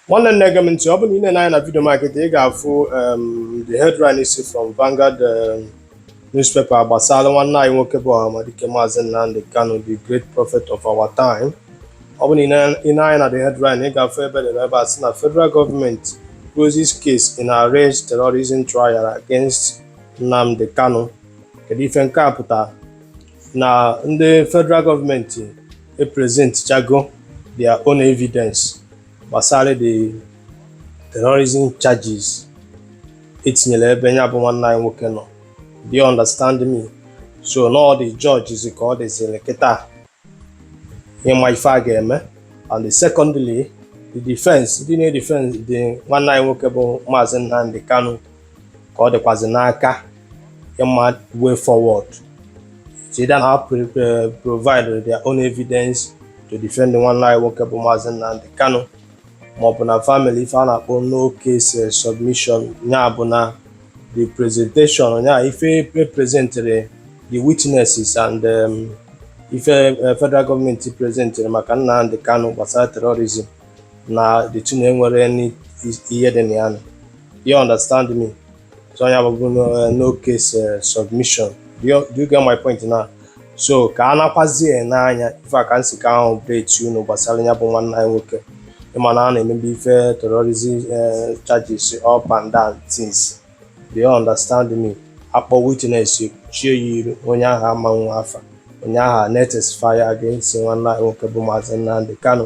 nwanne nne gee m ntị ọ bụrụ na ị nee anya na vidio m a kịta ị ga-afụ um, the headline si from Vanguard um, newspaper gbasara nwanne anyị nwoke bụ Ọhamadike Maazị Nnamdi Kanu the great prophet of our time ọ bụrụ na ị nee anya na the headline ị ga-afụ ebe e dere ebe a sị na federal gọọmenti closes case in alleged terrorism trial against Nnamdi Kanu kedu ife nke a pụtara na ndị federal gọọmenti epresentchago their own evidence gbasara the terrorism charges e tinyere ebe ya bụ nwanne anyị nwoke nọ do you understand me so na ọ the judge zi ka ọ dịziri kịta ịma ife a ga-eme and secondly the defense ndị na-edefendzi nwanne anyị nwoke bụ maazị Nnamdi Kanu ka ọ dịkwazị n'aka ịma way forward so either na ha provide their own evidence to defend nwanne anyị nwoke bụ Maazị Nnamdi Kanu maọbụ na fa mee ife a na-akpọ no case eh, submission ya bụ na the presentation ya ife e presentere the witnesses and um, ife eh, federal gọọmenti presentere maka Nnamdi Kanu gbasara terrorism na the thing na enwerọ ihe dị na ya do you understand me so ọ ya bụ bụ eh, no case eh, submission do you, do you get my point now so ka a nakwazi ene anya ife a ka m sị ka m update unu gbasara ya bụ nwanne anyị nwoke ị ma na a na-emebu ife terrorism eh, charges up and down things do you understand me a kpọọ witness chie ya iru onye ahụ ama enwe afa onye ahụ na-etestify against nwanne anyị nwoke bụ Maazị Nnamdi Kanu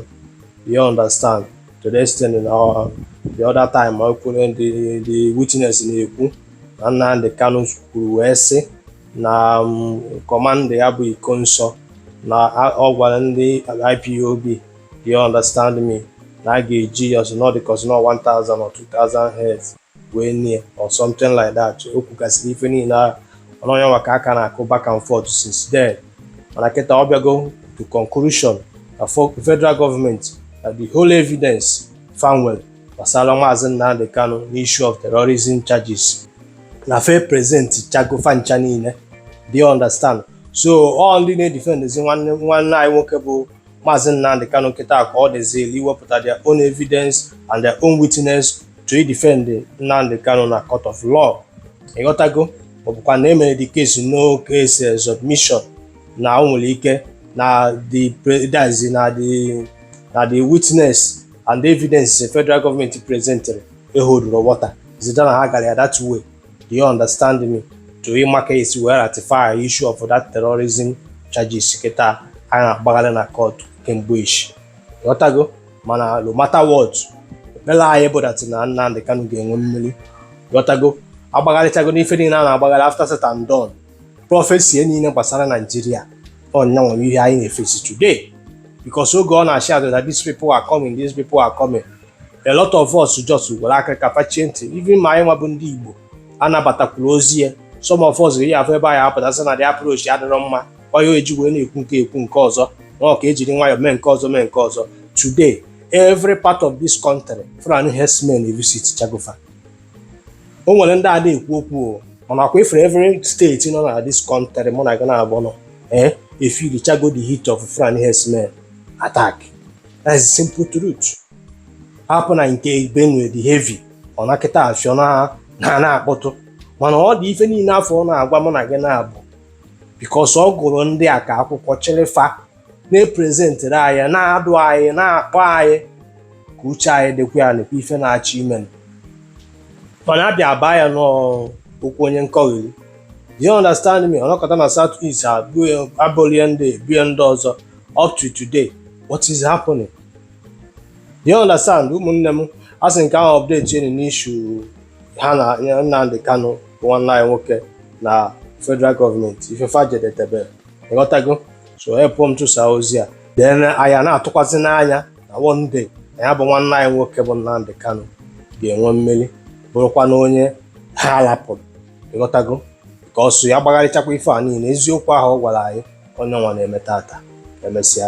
you understand to the extent na uh, the other time o kwuru ndị the witness na-ekwu na Nnamdi Kanu kwuru wee sị na um, kọmanda ya bụ Ikonso na ọ gwara ndị IPOB do you understand me na a ga-eji ya ọzọ not because not 1000 or 2000 heads wee nie ya or something like that o kwugasịrị ife niile ahụ ọ ya nwa ka a ka na-aga back and forth since then mana kịta ọ bịago to conclusion na fo- federal gọọmenti na the whole evidence fa nwelu gbasara maazị Nnamdi Kanu n'issue of terrorism charges na fa epresentchago fa ncha niile do you understand so all ndị na-edefendezi nwanne nwanne anyị nwoke bụ Maazị Nnamdi Kanu kịta ka ọ dịzili iwepụta their own evidence and their own witness to defend Nnamdi Kanu na court of law ị ghọtago ọ bụkwa na e mere the case no case eh, submission na o nwere ike na the presidency na the na the witness and the evidence federal government presentere eholdrọ water is either na ha gara ya that way do you understand me to ịma ka e si wee ratify issue of that terrorism charges kịta a na-agbagharị na court kemgbe ishi ị ghọtago mana no matter what ekpere anyị bụ that na Nnamdi Kanu ga-enwe mmeri ị ghọtago agbagharịchago n'ife niile a na-agbagharị after said and done prophecy niile gbasara Nigeria ọ ya bụ ihe anyị na-eface today because oge ọ na-asị anyị that these people are coming these people are coming a lot of us just were aka kpachie ntị even ma anyị nwa bụ ndị Igbo anabatakwarọ ozi ya some of us ga-eyi afọ ebe anyị apụta sị na the approach adịrọ mma onye o ji wee na-ekwu nke ekwu nke ọzọ nwa ka ejiri nwayọọ mee nke ọzọ mee nke ọzọ today every part of this country Fulani herdsmen evisitchago fa o nwere ndị ada ekwu okwu o mana ọkwa ị fụrụ every state nọ na this country mụ na gị naabọ nọ ee efeelichago the heat of Fulani herdsmen attack that's the simple truth hapụ na nke Benue dị heavy ọ na kịta afụ ọ na na na-akpọtụ mana ọ dị ife niile afụ ọ na-agwa mụ na gị naabọ because ọ gụrụ ndị a ka akwụkwọ chịrị fa na-epresentiri anyị na-adụ anyị na-akpọ anyị ka uche anyị dịkwa ya nekwa ife na-achọ ime mana a bịa baa ya n'okwu onye nkọgheri you understand me a nọkata na south east abụlie ndị ebie ndị ọzọ up to today what is happening you understand ụmụnne m asị m ka m update unu n'issue ha na Nnamdi Kanu bụ nwanne anyị nwoke na federal government ife fa jedetebe ị ghọtago so helpụ m tụsaa ozi a then anyị na-atụkwazị n'anya na one day na ya bụ nwanne anyị nwoke bụ Nnamdi Kanu ga-enwe mmeri bụrụkwanụ onye ha alapụrụ ị ghọtago ka ọ sọ ya gbagharịchakwa ife a niile eziokwu ahụ ọ gwara anyị ọ ya nwa na-eme taata emesịa